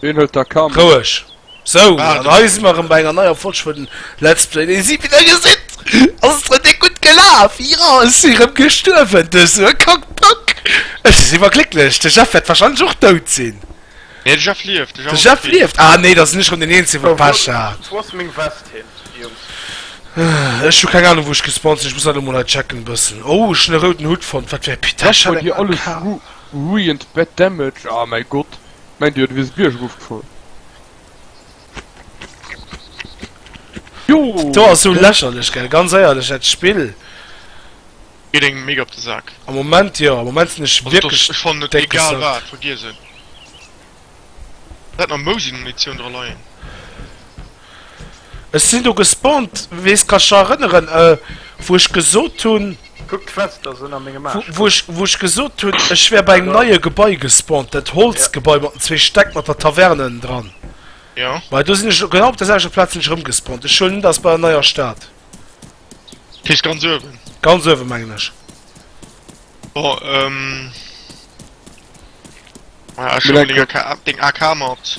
Ween huet da Kand? Roueg. Sou, an hei si mer erëm bei enger neier Folg vun Let's Play Dee si wéi der gesitt, ass et rem déck gutt gelaf. Jo, ech si rem gestuerwen duerch sou e Kack-Pack. Ech ass iwwerglécklech. De Jeff wäert warscheinlech och dout sinn. Nee, de Jeff lieft. De Jeff ass okay. Ah nee, da sinn ech rem den Eenzegen, wou Pech hat. Wou ass meng Vest hin, Jungs? Ech hu keng Anung, wou ech gespawnt sinn. Ech muss dat elo mol hei checken e bëssen. Oh, ech hunn e rouden Hut fonnt. Wat fir e Pitesch hat eng AK? Ech hu bei dir alles ruined, bad damage. Oh mäi Gott. Meint dir, du wiers biergof gefuer? Joo! Do ass sou lächerlech gell, ganz éierlech dat Spill. Geet engem mega op de Sak. Am Moment jo, am Moment sinn ech wierklech déck gesackt. Vergiess en. Läit nach Mousi-Munitioun dra leien. Ech sin do gespawned wéi s kech erënneren wou ech gesot hun Kuck d'Quest ass ënner mengem Aarsch komm. Wou ech gesot hun ech wär bei engem neie Gebai gespawned, dat Holzgebai mat den zwee Stäck mat der Taverne ënnendran. Jo. Well do sin ech genau op der selwechter Plaz sin ech erëm gespawned. Ech huelen un dat ass bei der neier Stad. Dat heescht ganz uewen? Ganz uewen mengen ech. Bon ehm Ech huelen deng AK mat.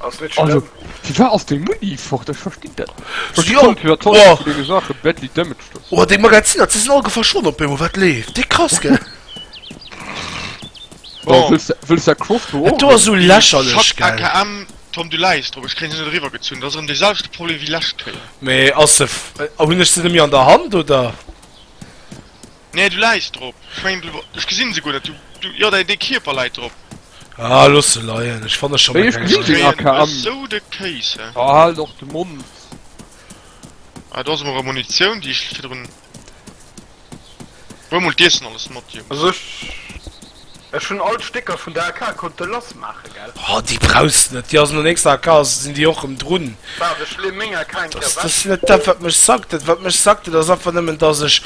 Ass net also, Wie war ass dee Muni fort? Ech verstinn dat dege Sache Betty Damage dës. Oh dee Magaziner ze sinn all gefa schon op Bemo wat leeft Di krass gell. Wëlls der Cross do sou lächer lech KM Tom du läis drop ech kréint se net eriwwer gezunn, dat ass erëm dee selwechte Problem wéi lescht Kéier. Mee ass se hunn ech se net méi an der Hand oder? Nee du leis drop, ech mengen du, ech gesin se guer net, du, jo dei dei Kierper leit drop. Ah looss se leien, ech fanne schon eng nei. Oh haal och de Mond. Ah do ass emol rem Munitioun déi ech virdrun. Huel mol d'Iessen alles mat Jungs. Ech hun all d'Stécker vun der AK konnte lass maachen, gell? Oh déi brauchs net, déi ass un der nächster AK sin déi och rem drun. Waard ech leen meng AK eng Kéier weg. Net dat wat mech sackt, dat wat mech sackt dat ass einfach nemmen dass ech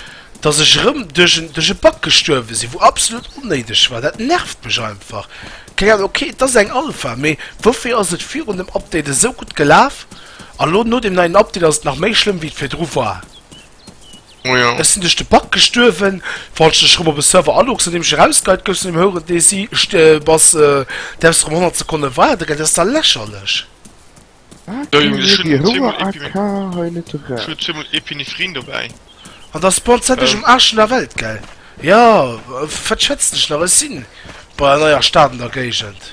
dass ech rem duerch en duerch e Bug gestuerwen sin wou absolut onnéideg war, dat nervt mech einfach, keng Ahnung, ok et ass eng Alpha mee woufir ass et virun dem Update esou gudd gelaaf a lo no dem neien Update ass et nach méi schlëmm wéi et virdru war? Ech sin duerch de Bug gestuerwen, falls du dech rëm op e Server aloggs nodeem ech erausgeheit gouff zu engem houeren Dési bass, däerfs rëm 100 Sekonnen waarden, dat ass da lächerlech. An datt bons dat ech um Aarsch vun der Welt gell? Jo wat schwätzen ech nach, ech sin bei an eier Stad an der Géigend.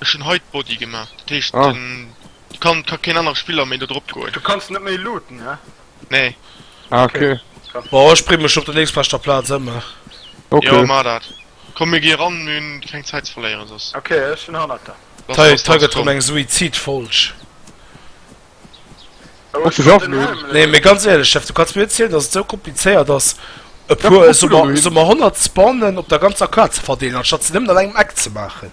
Ech hun hei d'Body gemaach, dat heescht kann ka keen anere Spiller méi do drop goen. Du kanns net méi looten ne? Nee. Ah ok. Bon ech bring mech op der nächstbeschter Platz em. Jo maach dat. Komm mir gi ran, mir hun keng Zeit ze verléieren soss. Ok ech hun hannert der. Hei hei gëtt rem eng Suizidfolg. Oh ech hun den Helm. Nee mee ganz éierlech Steff, du kanns mir net zielen dass et sou komplizéiert ass e puer soss emmer 100 Spawnen op der ganzer Kaart ze verdeelen anstatt se nemmen an engem Eck ze maachen.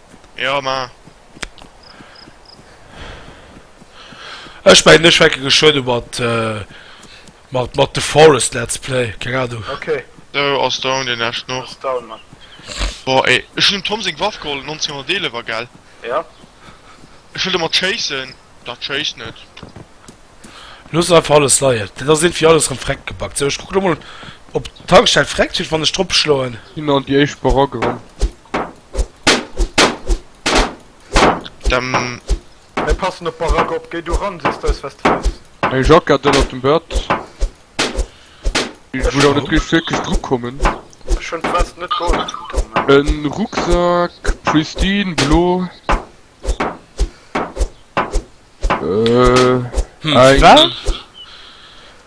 Jo ma. Ech mengen ech fänke geschwënne mat mat mat The Forest Let's Play, keng Ahnung. Ok. Sou ass down deen leschten och. Ass down man. Boah ey, ech hun dem Tom seng Waff geholl 1911 gell? Ja. Ech wëll domat chasen, dat chased net. Looss einfach alles leien, dat ass irgendwie alles rem freck gebackt. Sou ech kucken emol op d'Tankstell freck kritt wann ech drop schloen. Hin an déi éischt Barack erem. Dann. Mir passen op Barack op, géi du ran, sees de eis was de wëlls. Eng Jacke hat den op dem Bett. Ech wëll awer net riicht wierklech dru kommen. Ech hunn d'Vest net gold, Tom. En Rucksack, pristine, blo. Eng.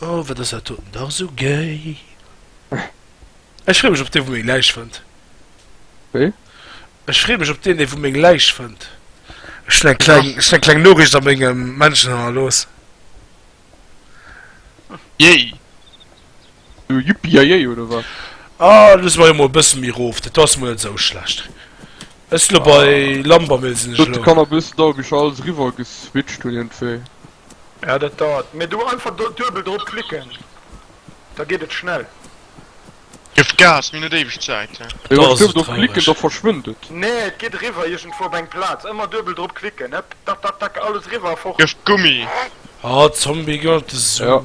Oh, wat ass dat doten dach esou gay! Ech freeë mech op dee wou meng Läich fënnt. Wéi? Ech freeë mech op deen dee wou meng Läich fënnt. Ech hunn eng kleng, ech hunn eng kleng Noriicht a mengem Männchen hannerlooss. Yay! So Yippie-Yayey oder wat? Ah, loose mer jo mol e bësse méi rof, dat ass mol net esou schlecht. Ech lo bei Lambermill sinn ech lo. Dat kann e bëssen dauere bis ech alles eriwwer geswitcht hunn iergendwéi. Ja, dat dauert. Mee do einfach do duebel drop klicken, da geet et schnell. Gëff Gas, mir hunn net éiweg Zäit. Mee wann ech duebel drop klicken, da verschwënnt et. Nee, et geet eriwwer iergendwou op eng Plaz. Ëmmer duebel drop klicken, hëpp, dack, dack, dack, alles eriwwer a fort. Gëff Gummi. Ah, Zombie, gëff de Sou.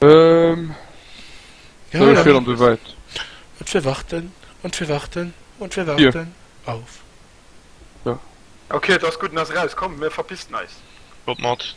Ähm. Ja, ja. Fir an de Wäit. Und wir warten, und wir warten, und wir warten yeah. auf. Ja. Okay, das gut nas raus. Komm, mir verpisst neis. Kommt mat.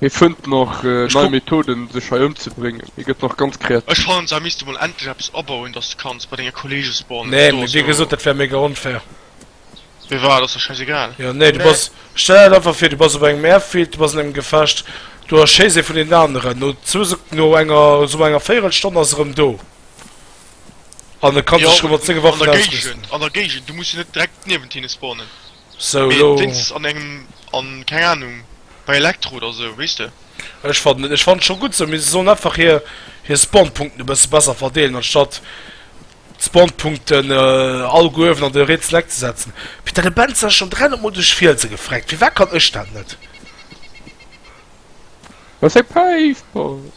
Hie fënnt nach nei Methoden sech hei ëmzebréngen, hie gëtt nach ganz kreativ. Ech fannen se misste mol endlech eppes abauen dass de kanns bei denge Kollege spawn. Nee mee wéi gesot dat wär mega onfair. Wéi war et ass der schäisegal. Jo nee du bass, stell der dat einfach vir du bass op engem Airfield, du bass an engem Gefecht, du erschéiss ee vun deenen aneren, no zwou Sek, no enger sommar enger véierel Stonn ass e rëm do an e kann sech rëm mat senge Waffen ausrüsten. Jo an der Géigend, an der Géigend, du muss jo net direkt niewent hinne spawnen. So mee elo. wéinst an engem an keng Ahnung bei Elektro oder sou weess de. Ech fannen et, ech fannen et scho gutt sou, mee se sollen einfach hir hir Spawnpunkten e bësse besser verdeelen anstatt d'Spawnpunkten all Guewen an de Rätsel eck ze setzen. Peter de Benz ass schonn 300 mol duerch Fielse gefreckt, firwat kann ech dat net? Well seng Päif passt.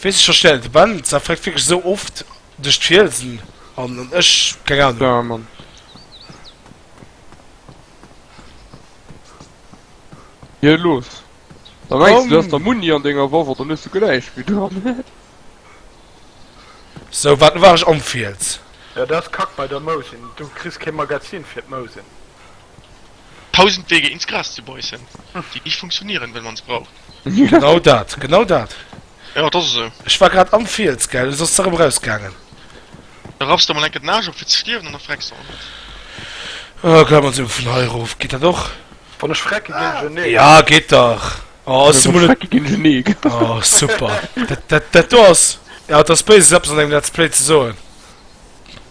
Wees ech verstellen de Ben sa freckt wierklech esou oft duerch d'Fielsen an an ech keng Ahnung. Ja Mann. Hier los. Da mengst du du has der Muni an denger Waff oder hues du gläich wéi dran. Sou wat war ech am Fiels. Ja dat ass kack bei der Mous, du kriss kee Magazin fir d'Mousen. Tausend Wege ins Gras zu beissen, die nicht funktionieren wenn man's braucht. Genau dat, genau dat. Jo, dat ass esou. Ech war grad am Fiels, gell, soss se erëm rausgaangen. Da raffs de mol enke den Aasch op fir ze stierwen an da frecks de och net. Oh, komm, also vun hei erof, geet dat och? Wann ech frecke ginn ech en Nee. Jo, geet dach. Oh, ass du mol e. Frecke ginn ech en Nee. Oh, super. Dat do ass. Jo, et ass béis, eppes an engem Let's Play ze soen.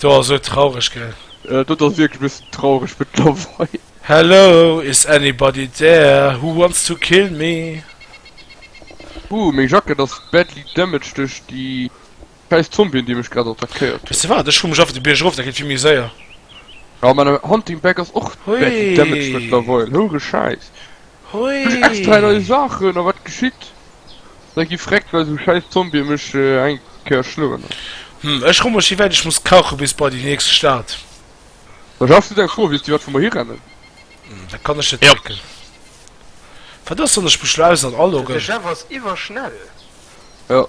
Do ass sou traureg gell. Dat ass wierklech bessen traureg mëttlerweil. Hello is anybody there who wants to kill me? Ooh meng Jacket ass badly damaged duerch déi scheiss Zombien déi mech grad attackéiert hun. Wees de waat ech hu mech einfach de Bierg erof, dat geet vill méi séier. Aa, main Hunting Bag ass och badly damaged mëttlerweil, holy scheiss. Hui! Extra nei Saachen a wat geschitt? Da gi vreckt well sou schäiss Zombie mech eng Kéier schloen. Hm, ech rumm mech wéi wäit ech muss kache bis bei déi nächst Stad. Da schaffs du deng Fro, weess déi wat vu mer hirennen? Da kann ech net drécken. Wat ass, wann ech mech lo aus an aloggen? De Jeff ass iwwerschnell! Jo.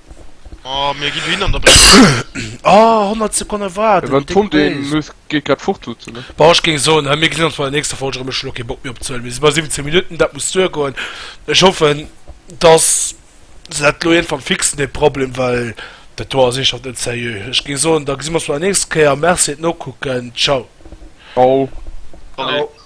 Oh, mir ginn hin an der Bréck. Ah, 100 Sekonne warten. Dann Dick kommt een, Base. muss geet grad fort duzen, ne? Bon, ech géing soen, hei, mir gesinn ons bei der nächster Folge erëm. Ech hunn och kee Bock méi opzehuelen. Mir si bei 17 Minutten, dat muss duergoen. Ech hoffen, dass se dat elo iergendwann fixen, dee Problem, well dat do ass eeschhaft net sérieux. Ech géing soen, da gesi mir ons bei der nächster Kéier. Merci fir d'Nokucken. Ciao. Au. Salut. Au.